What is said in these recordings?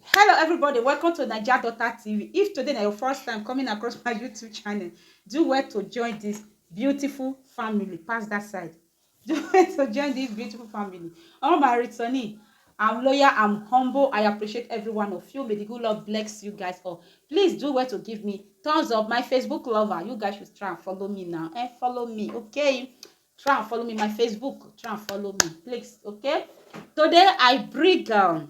Hello everybody, welcome to Naija Daughter TV. If today na your first time coming across my YouTube channel, do well to join this beautiful family. Pass that side. Do well to join this beautiful family. All my returnee, I'm loyal, I'm humble. I appreciate every one of you. May the good Lord bless you guys all. Please do well to give me thumbs up. My Facebook lover, you guys should try and follow me now. Eh, follow me, okay? Try and follow me. My Facebook, try and follow me, please, okay? Today I bring um,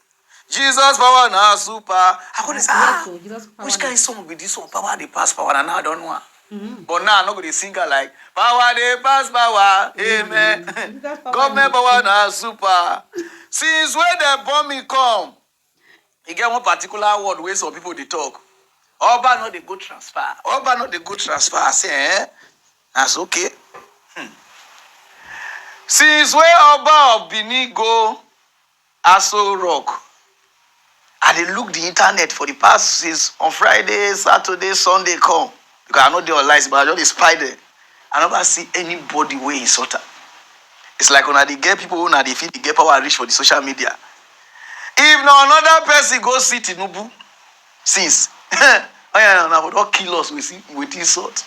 Jesus power na super. I go dey say, ah, So Jesus power. which kind song be this one? Power dey pass power, and now I don't know am. Mm-hmm. But now I no go dey sing am like power dey pass power, amen. Jesus power Government na- power na super. Since wey dem born me come, e get one particular word wey some people dey talk. Oba no dey go transfer. Oba no dey go transfer. I say, eh? That's okay. Since wey Oba of Benin go, Aso Rock, I dey look di internet for di past since on Friday, Saturday, Sunday come because I no dey online since but I just dey spy dem, I never see anybody wey insult am. It's like una dey get people wey una dey feel dey get power reach for di social media. If na another person go see Tinubu. since oya na for don kill us with with insult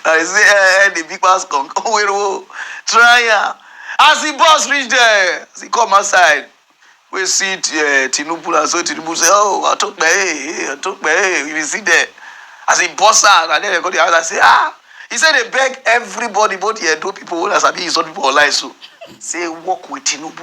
i say eh eh the big pass come owerowo try am as the boss reach there as he come outside we see uh, tinubu na so tinubu say oh atokpe eh atokpe eh we see there as he boss am and then they go the house and say ah he say they beg everybody both the edo people wey na sabi insult people online so say work with tinubu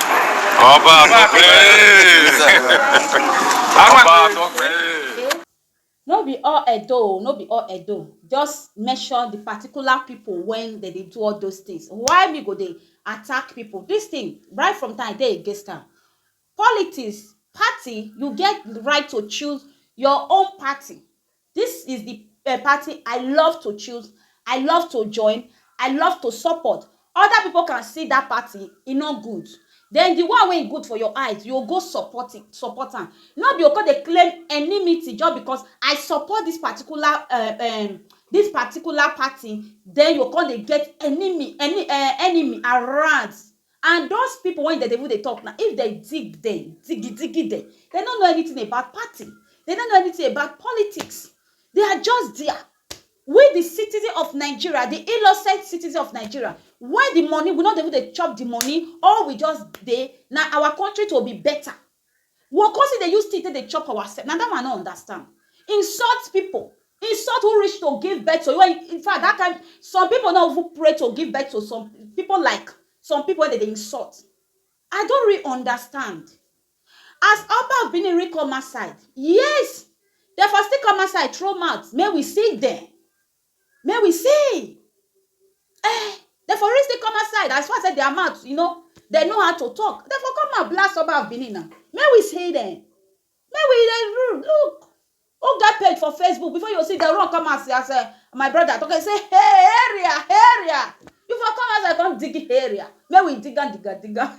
Oba, Oba, no be all edo o no be all edo just mention the particular people when they dey do all those things why me go dey attack people this thing right from time dey against am politics party you get right to choose your own party Dis is di party I love to choose, I love to join, I love to support, oda pipo can see dat party e no good den di one wey e good for your eyes you go support it support am no be o come dey claim enimity just because I support dis particular um dis particular party den you go come dey get enemy um enemy around And those people when they dey even dey talk now, if they dig them, digi digi them, they no know anything about party, they no know anything about politics, they are just there. We the citizen of Nigeria, the innocent citizen of Nigeria, where the money, we no dey even dey chop the money, all we just dey, na our country to be better, Wor come still dey use teeth take dey chop ourself. Na that one I no understand. Insult people. Insult who reach to give birth to you when you, in fact that kind, some people no even pray to give birth to some people like some people wey dem dey insult. I don't really understand. As Oba of Benin really come outside, yes! Dem for still come outside throw mouth make we see dem. Make we see eh dem for really still come outside as far say their mouth you know dem know how to talk dem for come and blast Oba of Benin na make we see dem make we dey look look who get page for Facebook before you see dem run come out as uh, my brother talk say hey area area you for come outside come dig area make we dig am dig am dig am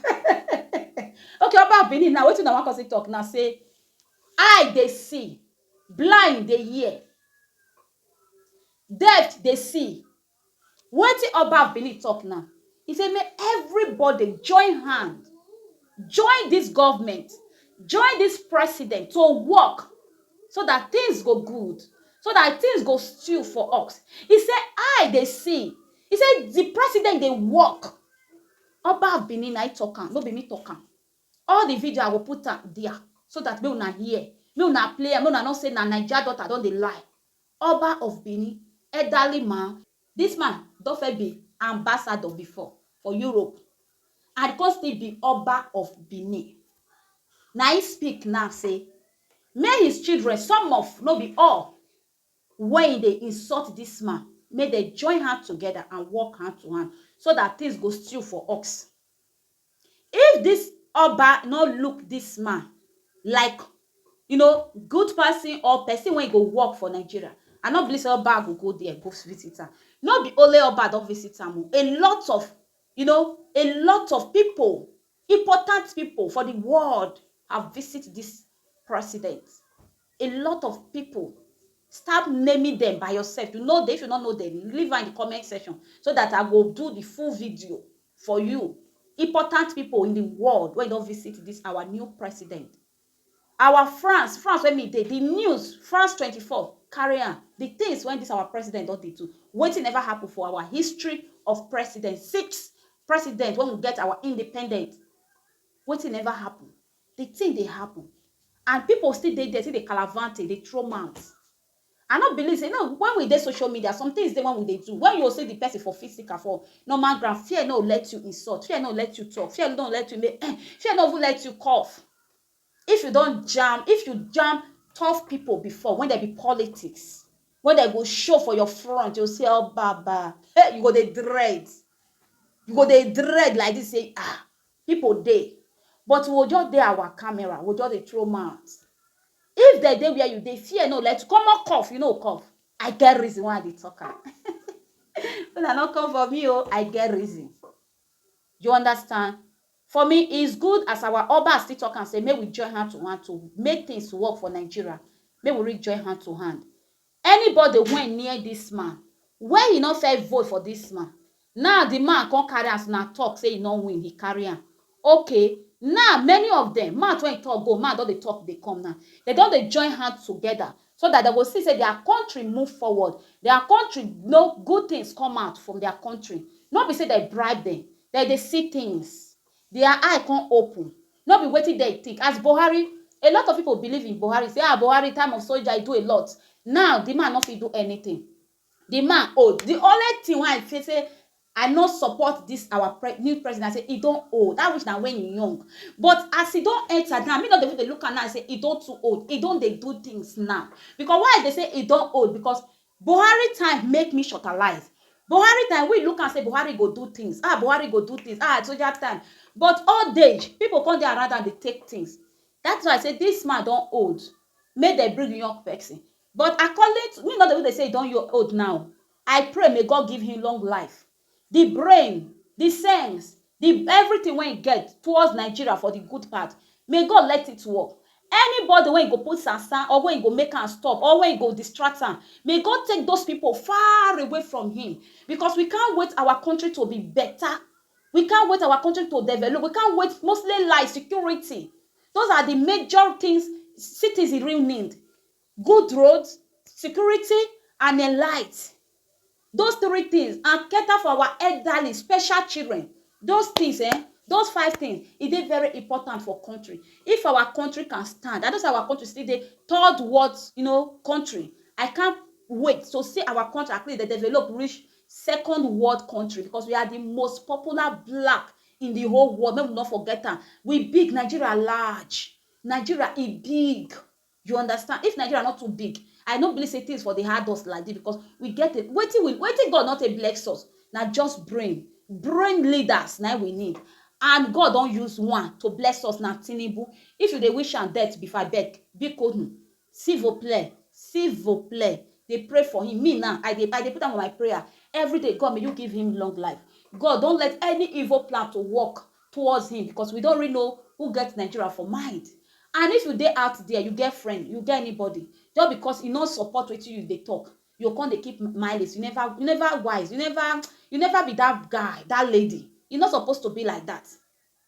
okay Oba of Benin na wetin na wan come see talk na say eye dey see blind dey hear Death dey see wetin Oba of Benin talk now, he say make everybody join hand, join this government, join this president to work so that things go good, so that things go stew for us. He say I dey see, he say the president dey work. Oba of Benin na him talk am, no be me talk am. All the video I go put am dia so that make una hear, make una play am, make una know say na Naija daughter don dey lie. Oba of Benin, elderly man. This man don first be ambassador before for Europe and come still be Oba of Benin. Na him speak now say make his children, some of, no be all, wey e dey insult this man, make dem join hand together and work hand to hand so that things go stew for us. If this oba no look this man like you know good person or person wey go work for Nigeria I no believe say oba go go there go visit am no be only oba don visit am o a lot of you know a lot of people important people for the world have visit this president. A lot of people start naming them by yourself you know them if you no know them leave am in the comment section so that I go do the full video for you important people in the world wey don visit this our new president our France France wey me dey the news France 24 carry am the things wey this our president don dey do wetin never happen for our history of president six president when we get our independent wetin never happen The thing dey happen and people still dey there still dey kalavante, dey throw mouth. I no believe say, you know when we dey social media, some things dey when we dey do, when you go see the person for physical, for normal ground, fear no go let you insult, fear no go let you talk, fear no go let you make eh, fear no go even let you cough. If you don jam, if you jam tough people before, when dem be politics, when dem go show for your front, you go say Obaba, hey, you go dey dread, you go dey dread like this say ah, People dey but we go just dey our camera we go just dey throw mouth if dem dey where you dey fear no let common cough you no cough I get reason why I dey talk am una no come for me o I get reason you understand for me is good as our Oba still talk am say make we join hand to hand to make things work for Nigeria make we really join hand to hand Anybody wen near dis man wey he no first vote for dis man now the man come carry am as una talk say he no win he carry am okay now many of dem mouth wen he talk go man don dey talk dey come now dem don dey join hand together so that dem go see say their country move forward their country no good things come out from their country no be say dem bribe dem dem dey see things. Their eye come open, no be wetin dem think as Buhari, a lot of people believe in Buhari say ah Buhari time of soldier e do a lot, now the man no fit do anything, the man old, the only thing wey I feel say I no support this our pre new president na say e don old, that which na when e young but as e don enter now me no dey even dey look am now say e don too old, e don dey do things now because why I dey say e don old because Buhari time make me shortalize Buhari time we look am say Buhari go do things ah Buhari go do things ah soja time but old age people come dey around am dey take things that why I say this man don old make dem bring young person but according to me no dey even dey say he don old now I pray may God give him long life. di brain, di sense, di everything wey e get towards Nigeria for di good part, may God let it work. Anybody wey e go put sansan or wey e go make am stop or wey e go distract am, may God take those pipo far away from him becos we can't wait our country to be beta, we can't wait our country to develop, we can't wait mostly lies, security, those are di major things citizen real need. Good road, security and en light. Those three things and cater for our elderly, special children. Those things eh, those five things e dey very important for country. If our country can stand and those our country still dey third world you know, country, I can't wait to see our country at least dey develop reach second world country because we are the most popular black in the whole world. Make we no forget am. We big, Nigeria large, Nigeria e big. You understand? If Nigeria no too big, I no believe say things for dey hard us like this because we get a wetin we wetin God no take bless us na just brain, brain leaders na im we need and God don use one to bless us na Tinubu. If you dey wish am death before abeg bikonu sivoplee sivoplee dey pray for him me now I dey I dey put am for my prayer everyday God may you give him long life God don't let any evil plan to work towards him because we don't really know who get Nigeria for mind and if you dey out there you get friend you get anybody just because e no support wetin you dey talk you go come dey keep malice you never you never wise you never you never be that guy that lady e no suppose to be like that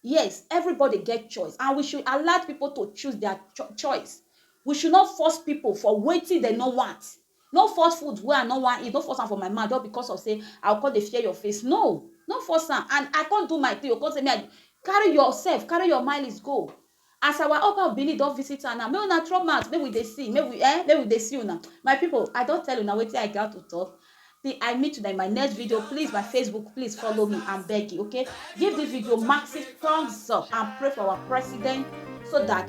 yes everybody get choice and we should allow people to choose their cho choice we should not force people for wetin dem no want No force food wey I no wan eat, no force am for my mouth just because of say I go come dey fear your face. No! No force am and I come do my thing, you go come say make I Carry yourself, carry your malice go. As our Oba of Benin don visit her now, make una throw mouth make we dey see, make we eh, make we dey see una. My people, I don tell una wetin I gat to talk. Till I meet una in my next video, please my Facebook, please follow me, I'm begging, okay? Give this video massive thumbs up and pray for our president so that